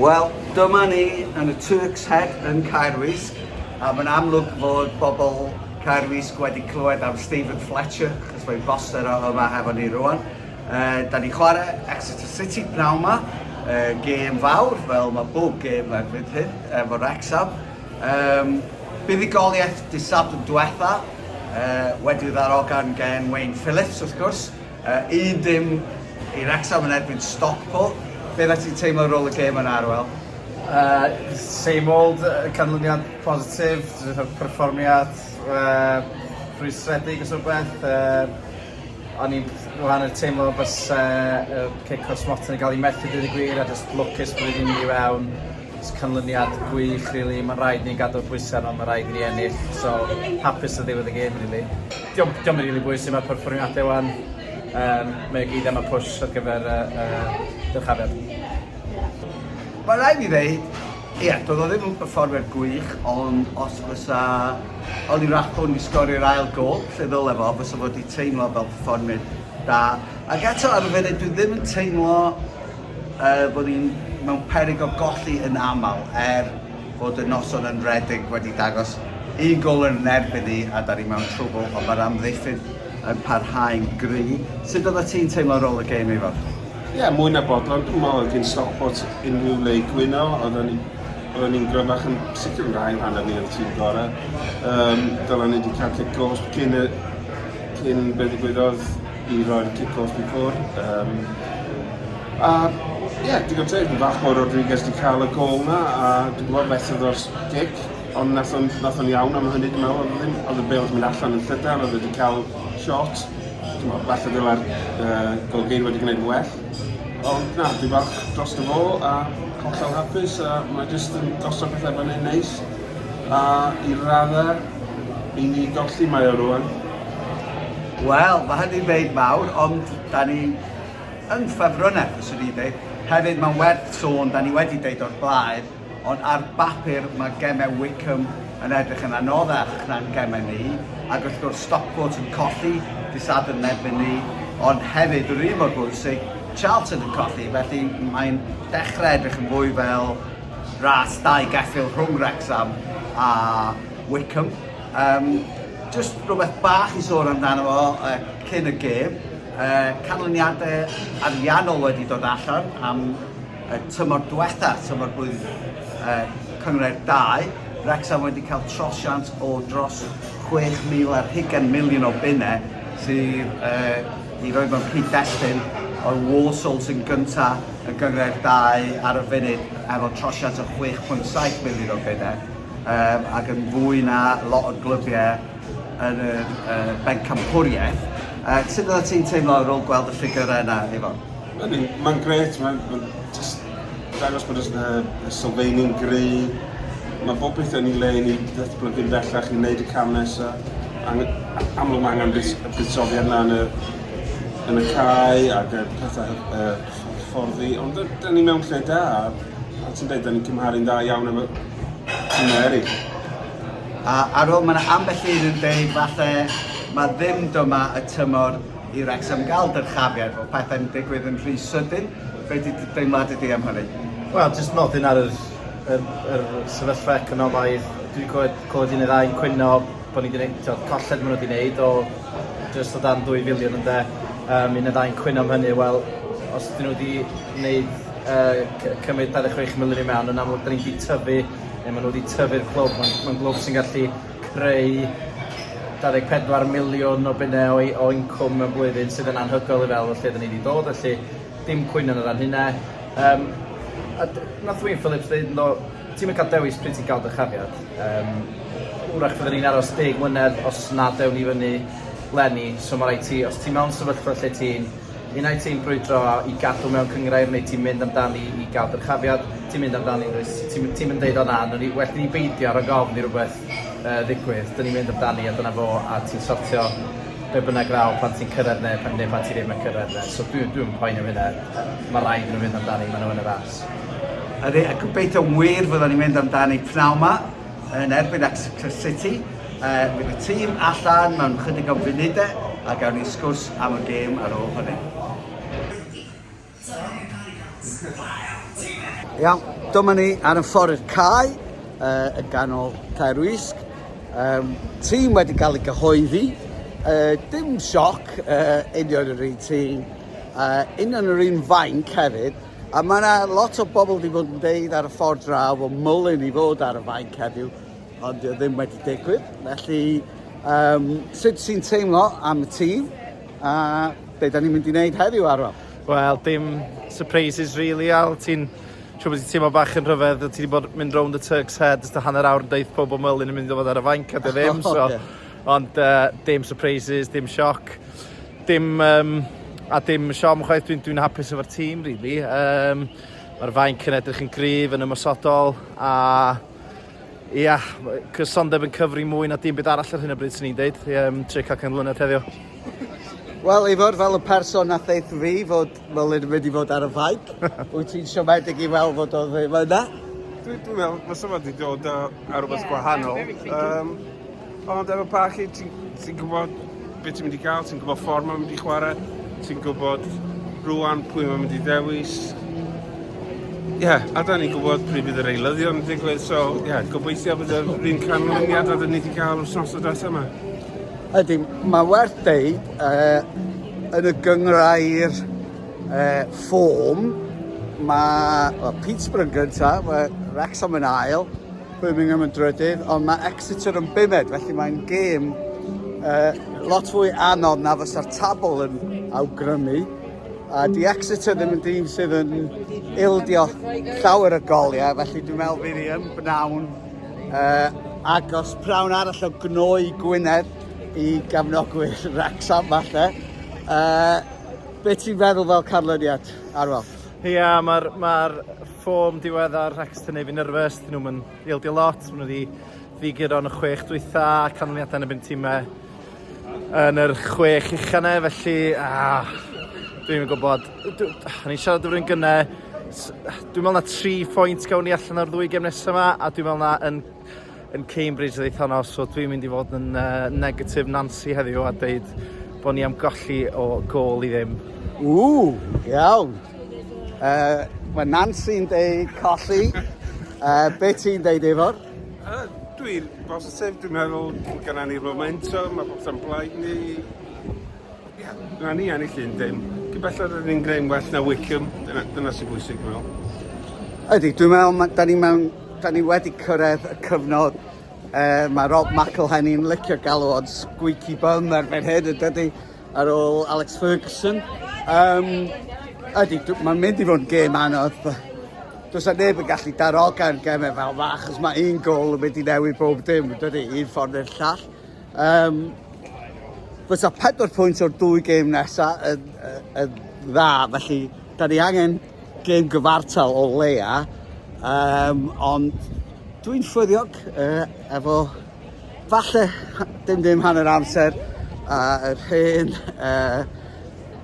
Wel, dyma ni yn y Turks Head yn Caerwysg, a mae'n amlwg fod bobl Caerwysg wedi clywed am Stephen Fletcher, chos mae'n boster o yma hefo ni rwan. Uh, da ni chwarae Exeter City pnawn ma, uh, gêm fawr fel mae bob gêm erbyn hyn efo Rexham. Um, buddigoliaeth disab yn diwetha, uh, wedi ddarogan gen Wayne Phillips wrth gwrs, uh, un dim i Rexham yn erbyn Stockport. Be dda ti'n teimlo rôl y gêm yn arwel? Uh, same old, uh, canlyniad positif, perfformiad uh, rhwystredig os rhywbeth. Uh, O'n i'n wahan yn teimlo byse y cake cwrs Morton yn cael ei methu dweud y gwir a just lwcus bod wedi mynd i fewn. Jyst canlyniad gwych rili. Mae'n rhaid ni gadw'r pwysau arno mae'n rhaid i ni ennill so hapus o ddiwedd y gêm rili. Diom, diom yn rili bwysig mae'r perfformiadau wan. Um, mae o gyd am y push ar gyfer y uh, dyrchafiad. Mae'n rhaid i fi ddeud Ie, doedd o ddim yn perfformiad gwych, ond os fysa Ollie Rathbone wedi sgorio'r ail gôl, lle ddyle fo, fysa fo wedi teimlo fel perfformiad da. Ac eto ar y funud, dwi ddim yn teimlo uh, bod ni'n mewn perig o golli yn aml, er bod y noson yn redig wedi dangos un gol yn erbyn ni a da ni mewn trwbl, ond mae'r amddiffyn yn parhau'n gry. Sut oedda ti'n teimlo ar ôl y gêm, Ifor? Ie, mwy na bodlon, dwi'n meddwl oedd hi'n Stockport unrhyw le i gwyno, oedden ni, oedden ni'n gryfach yn sicr yn rhai rhan o fi o'r tîm gorau. Um, dylan ni wedi cael cic gost cyn, y, cyn be ddigwyddodd i roi'r cic gost i ffwr. Um, a ie, yeah, digon teg, yn fach o Rodriguez wedi cael y gol na, a dwi'n gwybod beth oedd o'r cic, ond nath o'n, nath o'n iawn am hynny, dwi'n meddwl, oedd ddim, oedd y bel wedi mynd allan yn llydan, oedd wedi cael shot, T'mo' falle ddyla'r yy golygfeydd wedi gwneud yn well. Ond na, dwi falch drosto fo a hollol hapus a mae jyst yn gosod pethau fyny'n neis a i radda i ni golli mae o rwan. Wel, mae hynny'n ddeud mawr, ond da ni yn ffefrynne, fyswn i'n dweud. Hefyd, mae'n werth sôn, da ni wedi dweud o'r blaen, Ond ar bapur mae gemau Wycombe yn edrych yn anoddach na'n gemau ni, ac wrth gwrs Stockport yn colli dydd Sadwrn yn erbyn ni, ond hefyd, yr un mor bwysig, Charlton yn colli, felly mae'n dechrau edrych yn fwy fel ras dau geffyl rhwng Wrecsam a Wycombe. Um, just rhywbeth bach i sôn amdano fo uh, cyn y gêm, uh, canlyniadau ariannol wedi dod allan am Y tymor diwetha, tymor blwydd uh, cynghrair 2, Wrexham wedi cael trosiant o dros 6,000 ar hugen miliwn o bunnau sydd uh, i roi mewn cyd-destun o'r Walsall sy'n gyntaf y gynghrair 2 ar y funud efo trosiant o 6.7 miliwn o bunnau um, ac yn fwy na lot o glybiau yn y uh, bencampwriaeth. Uh, sut oeddet ti'n teimlo ar ôl gweld y ffigurau yna, Ifon? Ydy, mae'n gret, mae'n ma just dangos bod y, y sylfaenu'n gry. Mae bob pethau yn ei le i ni ddatblygu'n bellach, i wneud y cam nesaf. Amlwg mae angen bus, y buddsoddiad yna yn y, yn y cae ac y pethau y fforddi, ond da ni mewn lle da, a ti'n dweud, da ni'n cymharu'n dda iawn efo tîmau eraill. A ar ôl, mae'n ambell un yn dweud falle mae ddim dyma y tymor i Wrecsam gael dyrchafiad o pethau'n digwydd yn rhy sydyn, be di dy deimladau di am hynny? Wel, jyst nodyn ar yr, yr, yr sefyllfa economaidd, dwi'n clywed, clywed un neu ddau yn cwyno bod ni wedi gwneud, colled maen nhw wedi gwneud o jyst o dan 2 filiwn ynde, um, un neu ddau'n cwyno am hynny, wel, os dyn nhw wedi gwneud uh, cymryd 26 miliwn i mewn, yn amlwg dyn ni wedi tyfu, neu maen nhw wedi tyfu'r clwb, mae'n ma glwb sy'n gallu creu 24 miliwn o bunne o i- o incwm mewn blwyddyn sydd yn anhygoel i fe'l o lle 'dyn ni 'di dod felly dim cwyno yn y fan hynne. Yym a d- nath Wyn Phillips ddeud ynddo ti'm yn ca'l dewis pryd ti'n ca'l dy chariad yym wrach fydden ni'n aros deg mlynedd os nad ewn ni fyny 'leni so ma' raid ti os ti mewn sefyllfa lle ti'n Un ai ti'n brwydro i gadw mewn cynghrair neu ti'n mynd amdani i gael dyrchafiad, ti'n mynd amdani yn dwyt, ti'n ti'n yn deud o na, ni, well ni beidio rhag ofn i rhywbeth uh, ddigwydd, dyn ni'n mynd amdani a dyna fo a ti'n sortio be bynnag ddaw pan ti'n cyrraedd neu, neu pan ti ddim yn cyrraedd neu. So dwi'n dwi poen am hynna, mae rhaid nhw fynd amdani, maen nhw yn y ras. Ydy, a gobeithio wir fyddwn ni'n mynd amdani pnawn ma yn erbyn Exeter City. Uh, bydd y tîm allan mewn chydig o funudau a gawn ni sgwrs am y gêm ar ôl hynny. Iawn, dyma ni ar y ffordd i'r cae uh, yn ganol Caer Wisg. Um, tîm wedi cael ei gyhoeddi. Uh, dim sioc, uh, union yr un tîm, uh, union yr un fainc hefyd. A mae yna lot o bobl wedi bod yn deud ar y ffordd draw o mwlyn i fod ar y fainc heddiw, Ond dio ddim wedi digwydd, felly um, sut sy'n teimlo am y tîm a be da ni'n mynd i wneud heddiw arno? Wel, dim surprises really, Al. Ti'n siw bod ti'n teimlo bach yn rhyfedd, ti wedi bod mynd rownd y Turks Head, ysda hanner awr yn deith pob o mylun yn mynd i fod ar y fainc, a dy ddim, so... yeah. Ond uh, dim surprises, dim sioc, dim... Um, a dim siom chwaith, dwi'n dwi hapus efo'r tîm, really. Um, Mae'r fainc yn edrych yn gryf, yn ymwysodol, a Ia, cysondeb yn cyfri mwy na dim byd arall ar hyn o bryd sy'n ni'n deud, um, tri cael cyn mlynedd heddiw. Wel, Ifor, fel y person na theith fi fod Melin yn mynd i fod ar y ffaig, wyt ti'n siomedig i weld fod o ddim yna? Dwi'n meddwl, mae symud wedi dod ar rhywbeth yeah, gwahanol. Um, Ond efo parchu, ti'n ti gwybod beth ti'n mynd i gael, ti'n gwybod ffordd mae'n mynd i chwarae, ti'n gwybod rwan pwy mae'n mynd i ddewis. Ie, yeah, a da ni'n gwybod pryd bydd yr eilyddion yn digwydd, so ie, yeah, gobeithio bydd yr un canlyniad a dyn ni wedi cael wythnos o data yma. Ydy, mae werth deud, uh, yn y gyngrau'r uh, ffôm, mae well, Peterborough yn gyntaf, mae Wrexham yn ail, Birmingham yn drydydd, ond mae Exeter yn bumed, felly mae'n gêm uh, lot fwy anodd na fysa'r tabl yn awgrymu. A di Exeter ddim yn dîm sydd yn ildio llawer y goliau, felly dwi'n meddwl fydd hi yn bnawn uh, agos prawn arall o gnoi Gwynedd i gefnogwyr Wrexham falle. Uh, be ti'n feddwl fel canlyniad, Arwel? Ie, yeah, mae'r ma Form diweddar, Rex yn ei fi nerfus, dyn nhw'n ildio lot, maen nhw wedi ddiguro yn y chwech dwytha, canlyniadau yn y byn tîmau yn yr chwech uchanau, felly ah, dwi'n gwybod, o'n i'n siarad o'r un gynnau, dwi'n meddwl na tri phwynt gawn ni allan o'r ddwy gem nesaf yma, a dwi'n meddwl na yn yn Cambridge ddeitha nawr, so dwi'n mynd i fod yn uh, negative Nancy heddiw a dweud bod ni am golli o gol i ddim. Ww, iawn. Uh, mae Nancy'n deud colli. Uh, be ti'n deud, Efor? Uh, dwi'n bosib, dwi'n meddwl bod gennym ni momentum, mae popeth yn blaid ni. Na ni ennill un dim. Cyn belled rydyn ni'n gwneud well na Wycombe, dyna, dyna sy'n bwysig dwi'n meddwl. Ydy, dwi'n meddwl ma, da ni mewn, da ni wedi cyrraedd y cyfnod e, mae Rob McElhenney'n licio galw o'n squeaky bum erbyn hyn yn dydy ar ôl Alex Ferguson. Um, ydy, mae'n mynd i fod yn gêm anodd. Does na neb yn gallu darogan gemau fel fa, achos mae un gol yn mynd i newid bob dim, dydy, un ffordd neu'r llall. Um, fysa pedwar pwynt o'r dwy gêm nesaf yn, yn dda, felly da ni angen gêm gyfartal o leia, um, ond dwi'n ffyddiog uh, efo falle dim dim hanner amser a uh, yr hen uh,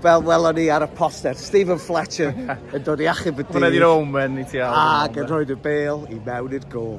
fel welon ni ar y poster, Stephen Fletcher yn dod i achub y dydd. Hwna di'r omen i ti. Ac yn rhoi dy bel i mewn i'r gol.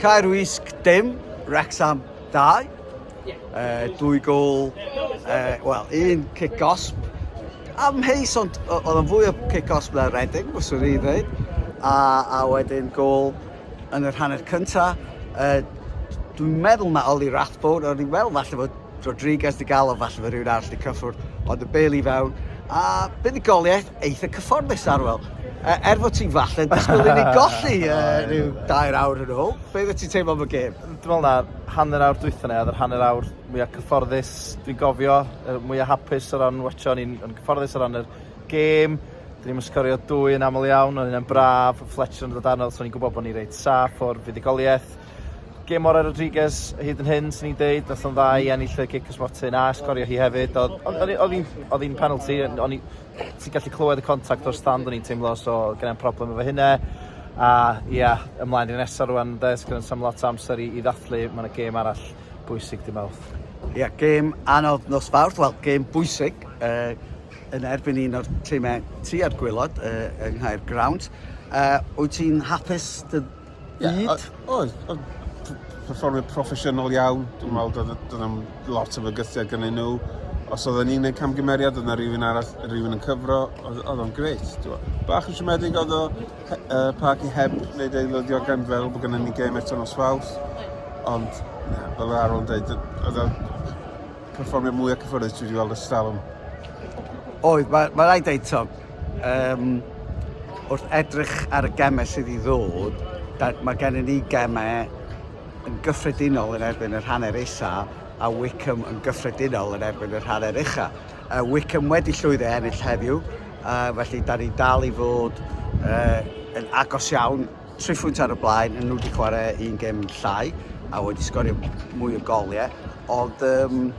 Caer Wysg dim, Wrexham 2. Uh, dwy gol, uh, wel, un cic osb. Amheus, ond oedd yn fwy o cic osb na Reading, fyswn i ddweud. A, a wedyn gol yn yr hanner cyntaf. Uh, dwi'n meddwl mae Oli Rathbone, o'n i'n meddwl falle bod Rodriguez di galw falle fod rhywun arall di cyffwrdd, ond y bel i fewn, a buddugoliaeth eitha cyfforddus arwel. E, er fod ti'n falle yn disgwyl i ni golli e, rhyw dair awr yn ôl, be fydde ti'n teimlo am y gêm? Dwi'n meddwl na hanner awr dwytha ni, oedd yr hanner awr mwyaf cyfforddus, dwi'n gofio, er mwyaf hapus o ran watcho, ni'n cyfforddus o ran yr gêm, Dyn ni'n sgorio dwy yn aml iawn, ond yna'n braf, Fletcher yn dod arno, so ni'n gwybod bod ni'n reit saff o'r fuddugoliaeth. Gêm orau Rodriguez hyd yn hyn, sy'n ni'n deud, oedd o'n dda i ennill y cic ysmotyn a sgorio hi hefyd. Oedd hi'n penalty, o'n i... ti'n gallu clywed y contact o'r stand o'n i'n teimlo, so gyda'n problem efo hynna. A ia, ymlaen i'r nesaf rwan, de, sy'n sam lot o amser i, i ddathlu, mae yna gêm arall bwysig dim awth. Ia, yeah, gêm anodd nos fawrth, wel, gêm bwysig uh, yn erbyn un o'r tîmau tua'r gwylod uh, yng Nghaer Ground. Uh, wyt ti'n hapus dy Ie, oedd, oedd, oedd perfformio proffesiynol iawn, dwi'n meddwl doedd, doedd am lot o fygythiad gynnyn nhw. Os oedd yn un yn camgymeriad, oedd yna rhywun arall, rhywun yn cyfro, oedd, oedd o'n greit. Bach yn siomedig oedd o uh, parc i heb wneud ei lydiogan fel bod gennym ni gêm eto nos faws. Ond, na, fel yr arwr yn dweud, oedd perfformiad mwyaf cyffyrddus dwi wedi weld ers talwm. Oedd, mae, mae rhaid dweud, to, um, wrth edrych ar y gemau sydd i ddod, da, mae gennym ni gemau yn gyffredinol yn erbyn yr hanner isa a Wickham yn gyffredinol yn erbyn yr hanner ucha. Uh, Wickham wedi llwyddo ennill heddiw, uh, felly da ni dal i fod uh, yn agos iawn Tri phwynt ar y blaen, nhw wedi chwarae un gem llai a wedi sgorio mwy o goliau, ond um,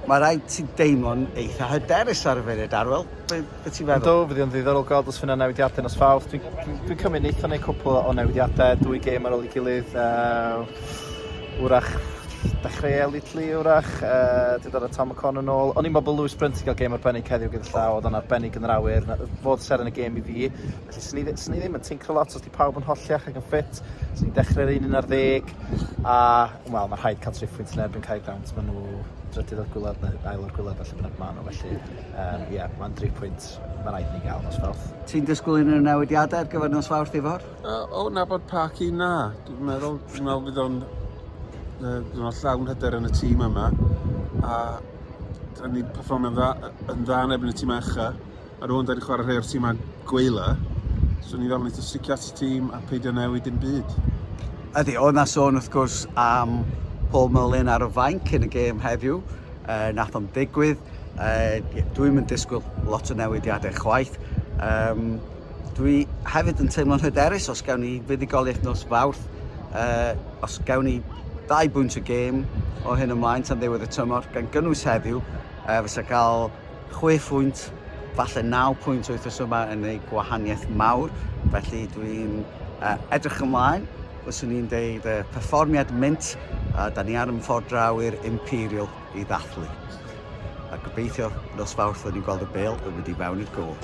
mae rhaid ti deimlo'n eitha hyderus ar y funud, Arwel. Be, be ti'n feddwl? Do, fyddi o'n ddiddorol gweld os fyna newidiadau nos fawrth. Dwi'n dwi, dwi cymryd neithon neu cwpl o newidiadau, dwy gêm ar ôl i gilydd. Uh, wrach dechrau Litli wrach, uh, dwi dod o Tom McCon yn ôl. O'n i'n meddwl bod Lewis Brunt i gael gêm arbennig heddiw gyda llaw, oedd o'n arbennig yn yr awyr. Fodd ser yn y gêm i fi. Felly, 'swn i ddi- 'swn i ddim yn tincro lot os 'di pawb yn holliach ac yn ffit. 'Swn i'n dechrau'r un un ar ddeg a wel, ma' rhaid cael triphwynt yn erbyn Caergrawnt, ma' nhw drydydd o'r gwlad neu ail o'r gwlad falle lle bynnag ma' nhw felly yym ie, ma'n dri phwynt ma' raid i ni gael nos Fawrth. Ti'n disgwyl unrhyw newidiadau ar gyfer nos Fawrth, Ifor? Yy o nabod Parky, na. Dwi'n meddwl dwi'n meddwl bydd o'n yy bydd o'n llawn hyder yn y tîm yma a 'dan ni 'di perfformio'n dda yy yn dda yn erbyn y timau ucha. Ar ôl dau 'di chwarae rhai o'r timau gweila, swn i'n gofyn i ti sticio at y tîm a peidio newid dim byd. Ydy, oedd na sôn wrth gwrs am Paul Mullin ar y fainc yn y gêm heddiw, uh, nath o'n digwydd. Uh, Dwi'n mynd disgwyl lot o newidiadau chwaith. Um, dwi hefyd yn teimlo'n hyderus os gawn ni fuddugoliaeth nos fawrth, uh, os gawn ni ddau bwynt y gêm o hyn ymlaen tan ddiwedd y tymor, gan gynnwys heddiw, uh, fysa cael Chwe phwynt, falle naw pwynt wythnos yma yn ei gwahaniaeth mawr, felly dwi'n uh, edrych ymlaen, fyswn i'n deud, uh, perfformiad mint, a da ni ar yn ffordd draw i'r Imperial i ddathlu. A gobeithio nos fawrth fod ni'n gweld y bel yn mynd i mewn i'r gol.